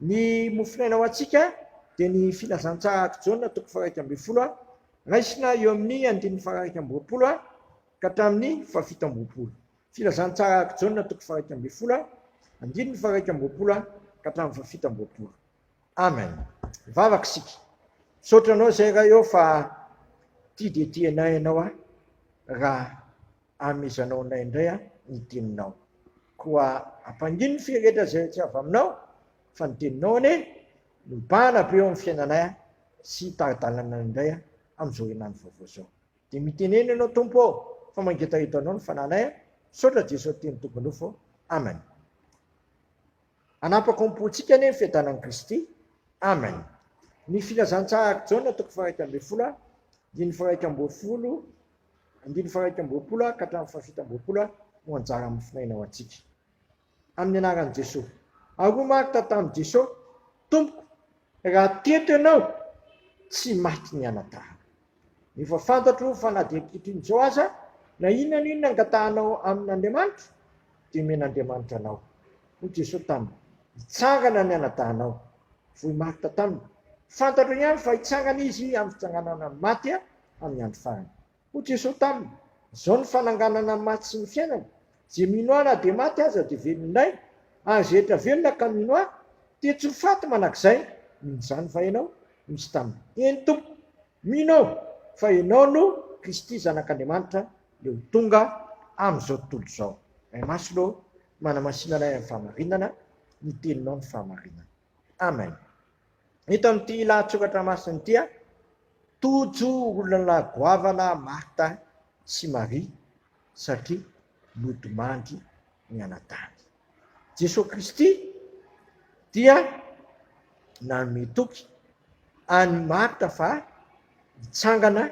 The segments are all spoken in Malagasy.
Ny mofonaina ho antsika dia ny Filazantsaha ak'i Jaona toko faharaika ambin'ny folo, raisina eo amin'ny andininy faharaika amby roapolo ka hatramin'ny fahafito amby roapolo. Filazantsaha ak'i Jaona toko faharaika ambin'ny folo, andininy faharaika amby roapolo ka hatramin'ny fahafito amby roapolo. Amen. Mivavaka isika. Misaotra anao izay Ray ô fa tia dia tia anay ianao raha amezanao anay indray ny teninao. Koa ampangino ny fia rehetra izay tsy avy aminao, fa ny teninao anie no mibahana be eo amin'ny fiainanay sy tari-dalananay indray amin'izao herinandro vaovao izao. Dia mitenena ianao Tompo ô, fa mangetaheta anao ny fananay. Misaotra Jeso Teny Tompo Nofo. Amen. Hanapako am-pontsika anie ny fiadanan'i Kristy. Amen. Ny filazantsaharak'i Jaona toko faha-iraika ambin'ny folo, andininy faha-iraika ambin'ny folo, Andininy faharaika amby roapolo ka hatramin'ny fahafito amby roapolo no anjara amin'ny finoaina ho antsika. Amin'ny anaran'i Jesoa. Ary hoy Marta tamin'i Jesoa, Tompoko, raha teto ianao, tsy maty ny anatahako. Efa fantatro fa na dia ankehitriny izao aza, na inona na inona angatahanao amin'Andriamanitra, dia omen'Andriamanitra anao. Hoy Jesoa taminy, Hitsangana ny anadahinao. Hoy Marta taminy, Fantatro ihany fa hitsangana izy amin'ny fitsanganana amin'ny maty. amin'ny andro farany. Hoy Jesoa taminy, Izao ny fananganana ny maty sy ny fiainana, izay mino Ahy na dia maty aza dia velona indray, ary izay rehetra velona ka mino Ahy, dia tsy ho faty mandrakizay. Mino izany va ianao? Izy taminy, Eny Tompo, mino aho fa Ianao no Kristy Zanak'Andriamanitra Ilay ho tonga amin'izao tontolo izao. Ray Masina ô, manamasina anay amin'ny fahamarinana, ny Teninao no fahamarinana. Amen. Eto amin'ity lahatsoratra masina ity, tojo olona goavana Marta sy Maria satria nodimandry ny anadahiny. Jesoa Kristy dia nanome toky an'i Marta fa hitsangana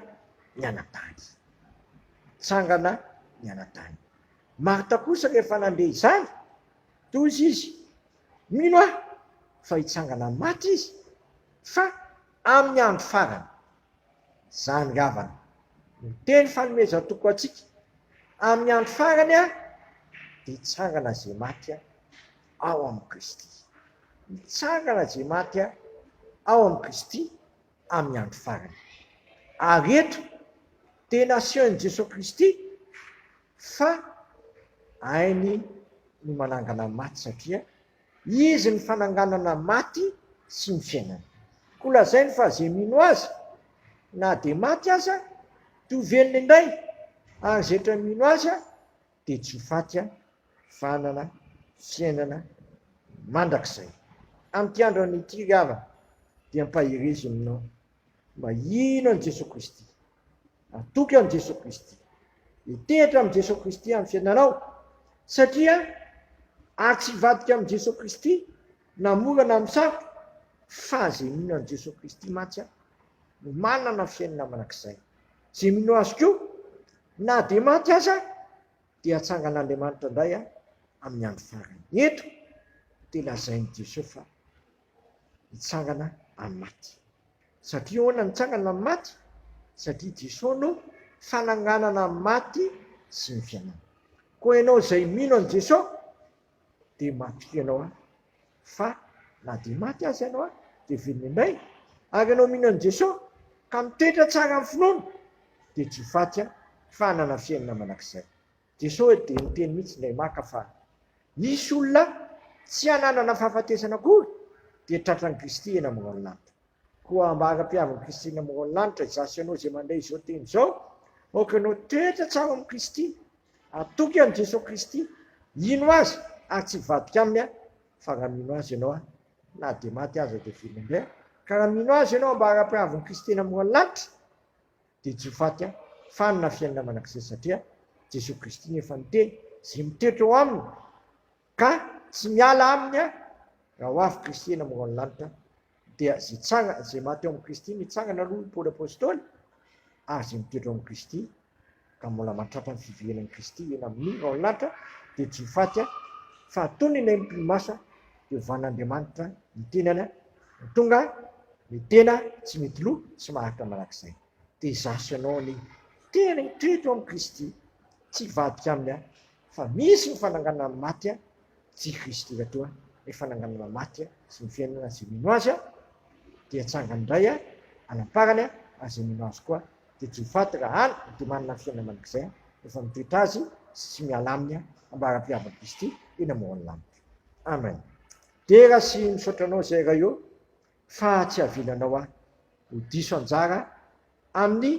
ny anadahiny. Hitsangana ny anadahiny. Marta kosa rehefa nandeha izany, Tohizo izy, mino aho fa hitsangana amin'ny maty izy, fa amin'ny andro farany. Izany ravana no teny fanomezan-toky ho antsika, amin'ny andro farany dia hitsangana izay maty ao amin'i Kristy. Hitsangana izay maty ao amin'i Kristy amin'ny andro farany. Ary eto, tena asehon'i Jesoa Kristy Fa hainy ny manangana maty satria Izy ny fananganana maty sy ny fiainana. Koa lazainy fa ze mino Azy na dia maty aza dia ho velona indray, ary ze tra mino Azy dia tsy ho faty fa hanana fiainana mandrakizay. Amin'ity andro an'ity ry havana dia ampaherezinao Mba hino an'i Jesoa Kristy. Atoky an'i Jesoa Kristy. Hitehitra amin'i Jesoa Kristy amin'ny fiainanao. Satria ary tsy hivadika amin'i Jesoa Kristy na mora na amin'ny sarotra fa izay mino an'i Jesoa Kristy mantsy aho no manana fiainana manak'izay. Izay mino azy koa na dia maty aza dia hatsangan'Andriamanitra indray aho amin'ny andro farany. Eto dia lazain'i Jesoa fa hitsangana amin'ny maty. Satria ahoana no hitsangana amin'ny maty? Satria Jesosy no fananganana ny maty sy ny fiainana. Koa ianao izay mino an'i Jesosy dia matokia ianao an, fa na dia maty aza ianao an dia velona indray. Ary ianao mino an'i Jesosy ka mitoetra tsara amin'ny finoana dia tsy ho faty an, fa hanana fiainana mandrakizay. Jesoa hoe dia niteny mihitsy indray maka fa hisy olona tsy hananana fahafatesana akory dia tratran'i Kristy eny ambonin'Lanitra. Koa mba hanapihavin'i Kristy eny ambonin'Lanitra izaho sy ianao izay mandray izao teny izao, aoka ianao toetra tsara ao amin'i Kristy, atoky an'i Jesoa Kristy, ino Azy ary tsy hivadika Aminy fa raha mino Azy ianao, na dia maty aza dia velona indray, ka raha mino Azy ianao mba hanapihavin'i Kristy eny ambonin'Lanitra, Dia tsy ho faty aho, fa hanana fiainana mandrakizay, satria Jesoa Kristy no efa niteny, izay mitoetra eo aminy ka tsy miala aminy aho, raha ho avy Kristy eny amin'ireo any lanitra, dia izay tsanga, izay maty eo amin'i Kristy, nitsangana aloha i Paoly Apostoly, ary izay mitoetra eo amin'i Kristy, ka mbola mantratra ny fiverenan'i Kristy eny amin'ireo any lanitra, dia tsy ho faty aho, fa hatony ny aim-pinomasina, dia hovan'Andriamanitra ny tenany Tonga ny tena tsy mety lo tsy maharitra manak'izay. Dia izaho sy ianao anie tena hitreto amin'i Kristy tsy hivadika aminy aho fa misy ny fananganana ny maty a tsy i Kristy efa toa ny fananganana maty a sy ny fiainana izay mino azy a dia hatsangany indray a anamparany a ary izay mino azy koa dia tsy ho faty raha any dia manana fiainana mandrakizay efa mitoetra azy sy tsy miala aminy a ambaram-piavan'i Kristy eny amoron'ny lanitra. Amen. Dera sy misaotra anao zay Raio fa tsy avilanao ahy ho diso anjara amin'ny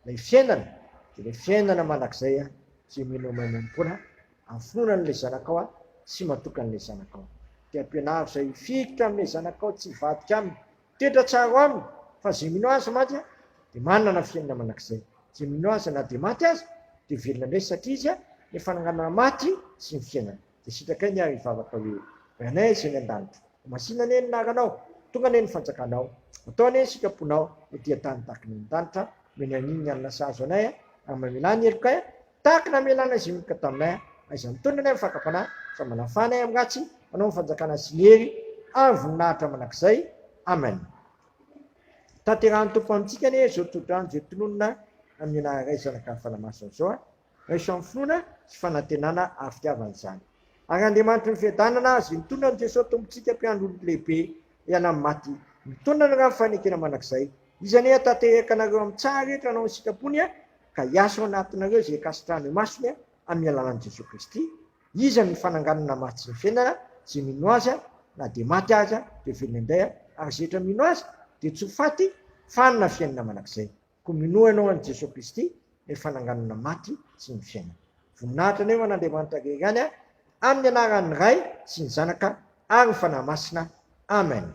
ilay fiainana dia ilay fiainana mandrakizay aho tsy mino mahay manompoana afonona an'ilay zanakao aho sy matoky an'ilay zanakao dia ampianaro zay hifikitra amin'ilay zanakao tsy hivadika aminy toetra tsaro aminy fa zay mino azy mantsy aho dia manana fiainana mandrakizay zay mino azy na dia maty aza dia velona indray satria izy a ny fananganana maty sy ny fiainana Dia sitrakay ny ahy hivavaka hoe, Ranay izay any an-danitra, ho masina anie ny anaranao, tonga anie ny fanjakanao, atao anie ny sitraponao ho dia tany tahaka ny any an-danitra, noho ny an'iny ny alina sahazo anay a, ary mamelà ny helokay a, tahaka ny namelanao izay minoka taminay a, aiza mitondra anay amin'ny fakam-panahy, fa manafà anay amin'ny ratsy, anao ny fanjakana sy ny hery ary ny voninahitra mandrakizay, amen. Tanterahan'ny Tompo amintsika anie izao tsodrano izay tononina amin'ny anaran'Ray, Zanaka ary Fanahy Masina izao a. raiso amin'ny finoana sy fanantenana ary fitiavana izany. Ary Andriamanitry ny fiadanana azy, mitondra an'i Jesoa Tompontsika mpiandry olon'ny lehibe hiala amin'ny maty, mitondra ny rà ny fanekena mandrakizay. Izy anie hatanteraka anareo amin'ny tsaha rehetra hanao ny sitrapony ka hiasa ao anatinareo izay ikasitrahany ho masony amin'ny alalan'i Jesoa Kristy. Izy no fananganana ny maty sy ny fiainana, izay mino Azy na dia maty aza dia velona indray ary izay rehetra mino Azy dia tsy ho faty fa hanana fiainana mandrakizay. Koa minoa ianao an'i Jesoa Kristy, ilay fananganana ny maty sy ny fiainana. Voninahitra anio an' Andriamanitra rery ihany an, amin'ny anaran'ny Ray sy ny Zanaka ary ny Fanahy Masina. Amen.